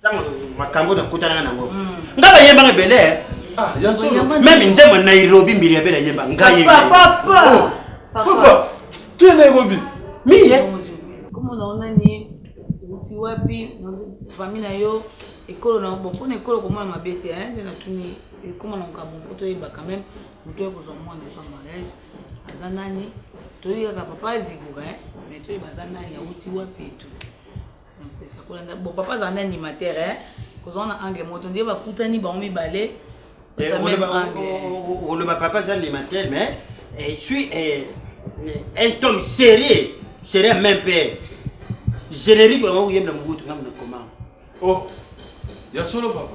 ntango makambo nakutanaka nango mm. nga bayembanga ebele eh. ah, meme nzembo nairobi mbili ya bele ayemba ngai tu es nairobi miye oti wapi fami na yo ekolo na bon mpona ekolo komona mabe te eh, nde natuni ekoma na makambo mpo toyeba quand même moto oyo kozwa mwana ozwa mariage aza nani toyekaka papa azikoka eh, mais toyeba aza nani auti wapi etu mpesa kolanda bon papa azala na animateur eh? kozala na angle moto nde bakutani bango mibale eh, oloba papa aza animateur mais eh, suis eh, un tome sérieux sérieux même père générique bango koyemba mobutu ngambo na koma oh ya solo papa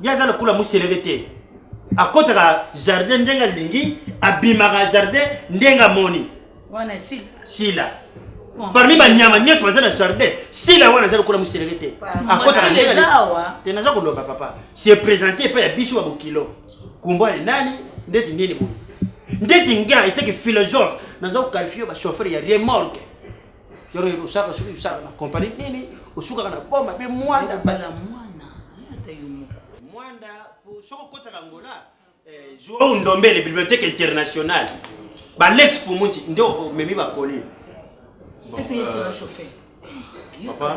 ye aza lokola moseleke te akotaka jardin ndenge alingi abimaka jardin ndenge amoni sila parmi banyama nyonso baza na jardin sila wana aza lokola moseleke te akotaka ndenge te naza koloba papa se présente epai ya biso ya bokilo kumbwani nani ndeti nini boye ndeti nga eteke philosophe naza kokalifie bachauffeur ya remorque yoro yoro osaka soki osaka na compagnie nini osukaka na boma pe mwanda bala mwana yata yo moko mwanda soko kotaka ngola eh, Joao Ndombele bibliothèque internationale ba Lex Fumunzi ndio omemi bakoli bon, euh, papa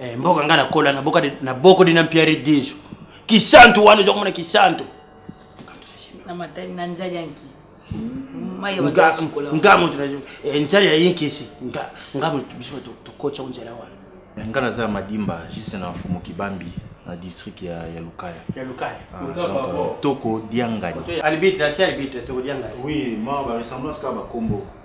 Eh, mboka nga nakola na boko dina mpiari diso kisantu wana oza komona kisantu nga moto eh, nzali ya yinkisi nga moto biso tokotya ko nzela wana eh, nga naza ya madimba juste na mfumu kibambi na district ya, ya lukaya ya lukaya ah, donc, euh, toko diangani alibite la si alibite toko diangani oui ma ba ressemblance ka ba combo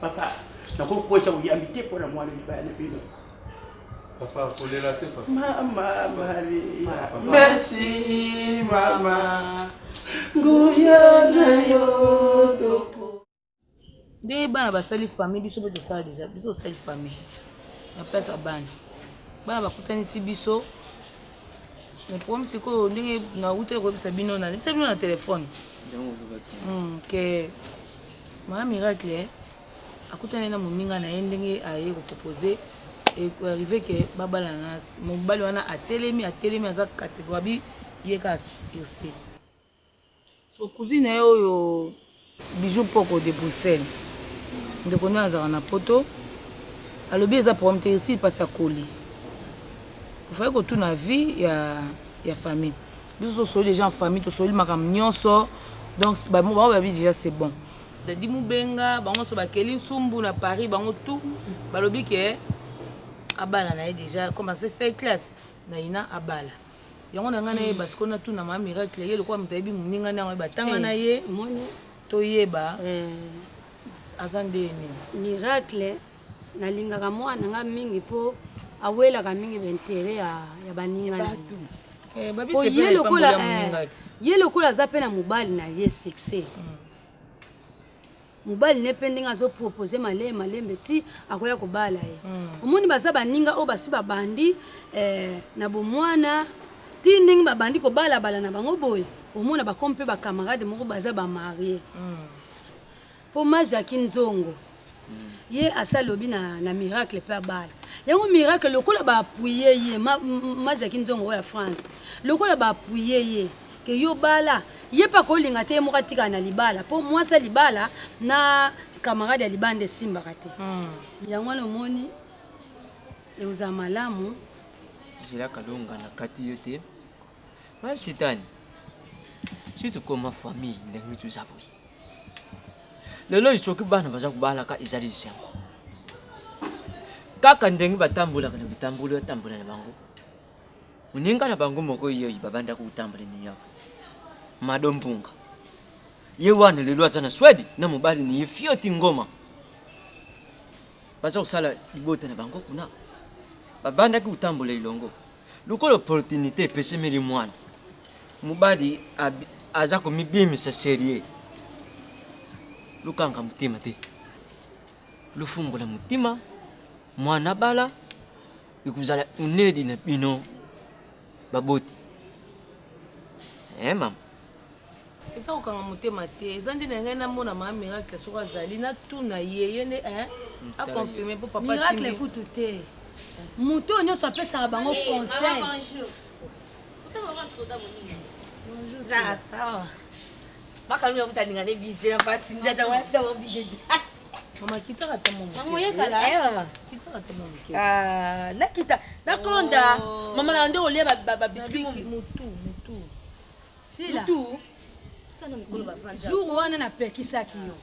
Papa, nakoki kokwesa boyambi te mpo na mwana libaya na bino. Papa, kolela te papa. Mama Marie. Merci mama. Nguya na yo toko. Nde bana basali famille biso mpe tosala deja biso tosali famille na place ya bana bana bakutani ti biso mais problème sikoyo ndenge nauti koyebisa bino nalebisa bino na telefone hmm, ke mama miracle eh, akutani na moninga na ye ndenge aye kopropose arrive ke babalana mobali wana atelemi atelemi aza kategoabi ye kasi irsi cousine na ye oyo bijou mpoko de bruxelles ndeko nde azalaka na poto alobi eza problème te esili mpasi akoli ofai kotuna vie ya, ya famille biso tosoli déjà en famille tosoli makambo nyonso donc bango babi déjà c'est bon dadi mobenga bango nyonso bakeli nsumbu na paris bango tout balobi ke abala na ye déjà comme ase 7 classe na ina abala yango na ngai nayeba sikoyo natuna ma miracle ye lokola moto ayebi moninga nde yango batanga na ye toyeba aza nde nini miracle nalingaka mwana nga mingi mpo awelaka mingi baintere ya, ya baninga eh, po ye lokola eh, ye lokola aza mpe na mobali na ye succès mm. mobali ne mpe ndenge azopropose malee malembe ti akoya kobala ye mm. omoni baza baninga oyo basi babandi eh, na bomwana ti ndenge babandi kobalabala na bango boye omona bakomi mpe bacamarade moko baza bamarie mm. mpo mm. majaki nzongo mm. ye asi alobi na, na miracle mpe abala yango miracle lokola baapuye ye majaki ma nzongo oyo ya france lokola baapuye ye ma ke yo bala ye mpe akolinga te ye moko atikala na libala mpo mwasi ya libala na camarade ya libanda esimbaka te hmm. yango wana omoni ekozala malamu zela kalonga na kati yo te masitani si tokoma famille ndenge toza boye lelo oyo soki bana baza kobalaka ezali esengo kaka ndenge batambolaka na bitamboli batambola na bango Muninga na bango moko yeyi babanda kotambole ni yabo. Mado Mpunga. Ye wana lelo aza na Swede na mobali ni ye Fioti Ngoma. Baza kosala libota na bango kuna. Babandaki kotambola elongo. Lokola opportunité epesemeli mwana. Mobali abi- aza komibimisa serieux. Lukanga motema te. lofungola motima mwana bala ekozala unedi na bino baboti eh mama eza kokanga motema te eza nde na ngai namona mama miracle soko azali natuna ye ye nde eh, aconfirme mpo papa miracle kutu te moto oyo nyonso apesaka bango eh, conseil Makalunga kuta ninga ne bize na basi ndata wa sa wa bize. Mama kita kata mama. Mama ye kala. Eh mama. Kita kata mama. Ah, na kita. Na konda. Oh. Mama na ndo olia ba ba biscuit mutu mutu. Sila. Mutu. Sila na mikolo ba vanda. Jour wana na pekisaki yo.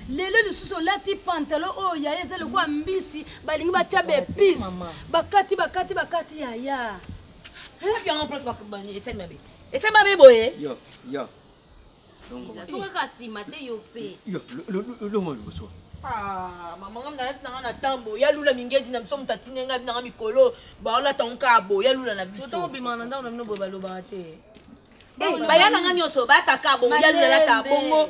lelo lisusu olati pantalo oyo yaya eza lokola mbisi balingi batya baepise bakati bakati bakati yaya Ese mabe boye. Yo, yo. Soki kaka nsima te yo mpe. Yo, longo liboso. Ah, mama nga mna nati nanga na tambo ya lula mingedi na biso moto atindi ngai binanga mikolo baola tango kaka bo ya lula na biso toko bima na ndako na bino boye balobaka te eh, baya na nga nyonso bataka bongo ya lula lata bongo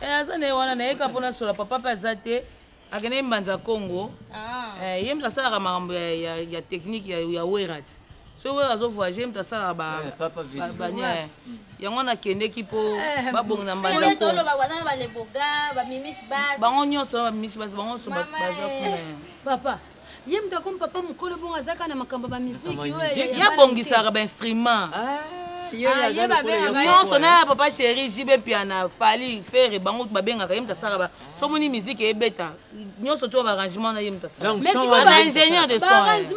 eh, aza na ye wana nayeka mpo nasola papa mpe aza te akendaki mbanza congo ah. eh, ye moto asalaka makambo ya technique ya werat soki oyo azovoyage moto asalaka bania eh, eh. mm. yango wana akendeki mpo eh, babongi na mbanzabango nyonso bamimisi basi bango nyonso baza kuna papa ye moto akomi papa mokolo bongo aza kaka na makambo ya bamiziki ye abongisaka bainstrument nyonso na ya papa chéri jibe piana fali fere bango babengaka ye moto asalaka so moni miziki ebeta nyonso to barangement na ye moto asalaka ingénieur de son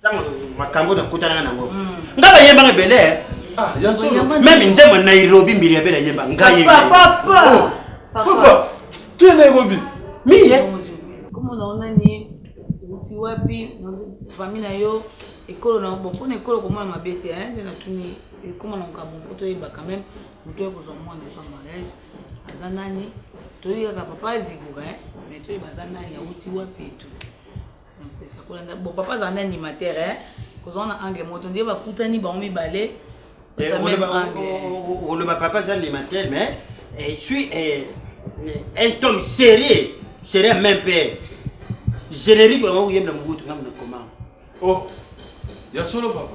ntango makambo nakutanaka nango mm. nga bayembanga ebele eh. ah, meme nzembo nairobi mbili ya bele ayemba ngai tu es nairobi miye oti wapi fami na yo ekolo na bon mpona ekolo komona mabe te eh, nde natuni ekoma na makambo mpo toyeba quand même moto oyo kozwa mwana ozwa mariage aza nani toyekaka papa azikoka eh, mais toyeba aza nani auti wapi etu mpesa kolanda bon papa azala na animateur eh? kozala na angle moto nde bakutani bango mibale eh, oloba papa aza animateur mais eh, suis eh, un tome sérieux sérieux même père générique bango koyembela mobutu ngambo na koma oh ya solo papa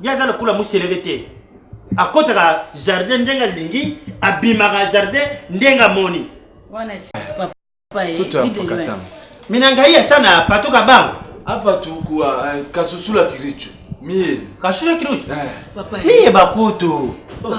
ye aza lokola moseleke te akotaka jardin ndenge alingi abimaka jardin ndenge amoni mina ngai asa na patuka bango apatukua eh, kasusula kiricu miye kasusula kiricu eh. miye bakutu oh.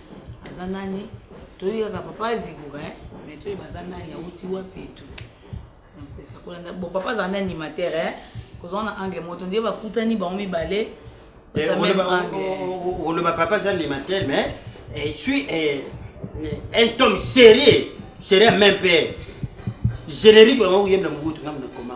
aza nani toyebi kaka papa azikuka eh? mais toyeba aza nani awuti wapi etu napesa kolanda bon papa azala na animateur eh? kozala na angle moto ndie bakutani bango mibale oloba papa aza animateur mais eh, suis eh, un tome sérieux sérieux même pe générique bango koyembela mobutu ngambo na koma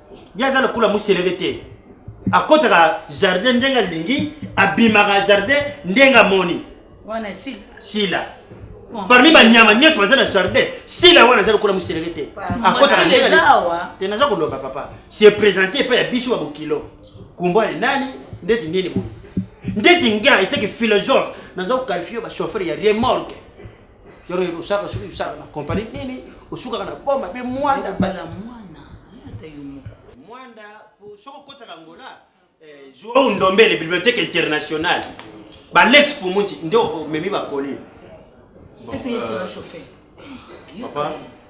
ye aza lokola moseleke te akotaka jardin ndenge alingi abimaka jardin ndenge amoni sila parmi banyama nyonso baza na jardin sila wana aza lokola moseleke te akotaka ndenge te naza koloba papa se présente epai ya biso ya bokilo kumbwani nani ndeti nini boye ndeti nga eteke philosophe naza kokalifie bachauffeur ya remorque yoro yoro osaka soki osaka na compagnie nini osukaka na boma pe mwanda bala mwana yata yo moko mwanda soko kotaka ngola eh, Joao Ndombele bibliothèque internationale ba Lex Fumunzi ndio omemi bakoli bon, euh, papa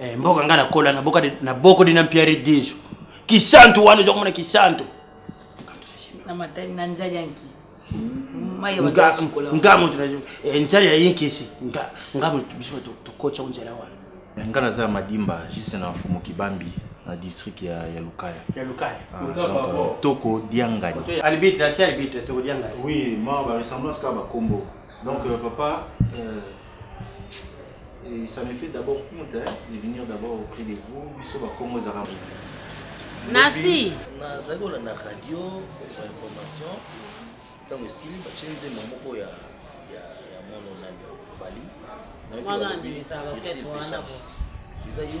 Eh, mboka nga nakola na boko dina mpiari diso kisantu wana oza komona kisantu nga moto eh, nzali ya yinkisi nga moto biso tokotya nzela wana eh, nga naza ya madimba juste na mfumu kibambi na district ya, ya Lukaya. Ya Lukaya. Ah, donc, euh, toko Diangani. Alibite, la sœur Alibite, toko Diangani. Oui, ma ba ressemblance ka ba combo. Donc, euh, papa, euh, et ça me fait d'abord honte hein, de venir d'abord auprès de vous. Biso ba Congo ezaka. Nasi. Nazali kolanda radio ba information ntango esili batye nzembo moko ya ya ya mono nani fali eza yo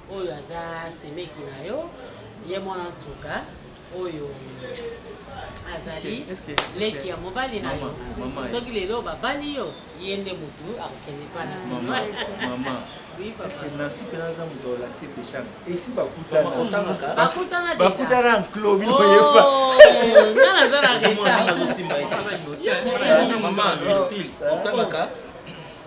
oyo aza semeki na yo ye mwana nsuka oyo azali leki ya mobali na yo soki lelo babali yo ye nde motu akokende mpa na nansi mpe naza moto olakisi peshana esi bakutanabakutana nklo bino yeba naza na reta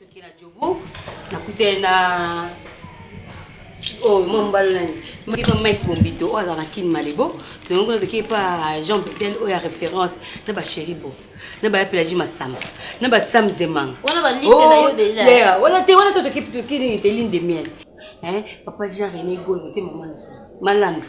Toke na Djogo, nakutani na oyo oh, mwa mobali nani moki mpa mike bombito oyo azala na kin malebo tongo kuna toke mpa jean betel oyo ya référence na bachéri bo na baya pelagi masamba na basam zemanga oh, wana te wana to toki nini te ligne de miel papa jean rené goyo te mama malandu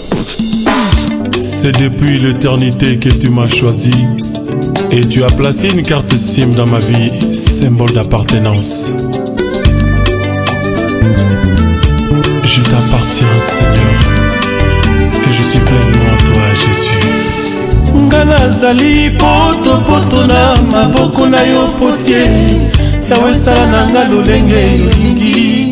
C'est depuis l'éternité que tu m'as choisi et tu as placé une carte SIM dans ma vie, symbole d'appartenance. Je t'appartiens, Seigneur, et je suis pleinement à toi, Jésus. Nga nazali poto poto na maboko na yo potie yawe sala na nga lolenge olingi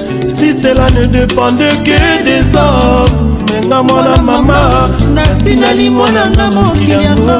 si cela ne dépende que des hommes nga mwana mama nasi nali mwana nga mokili yango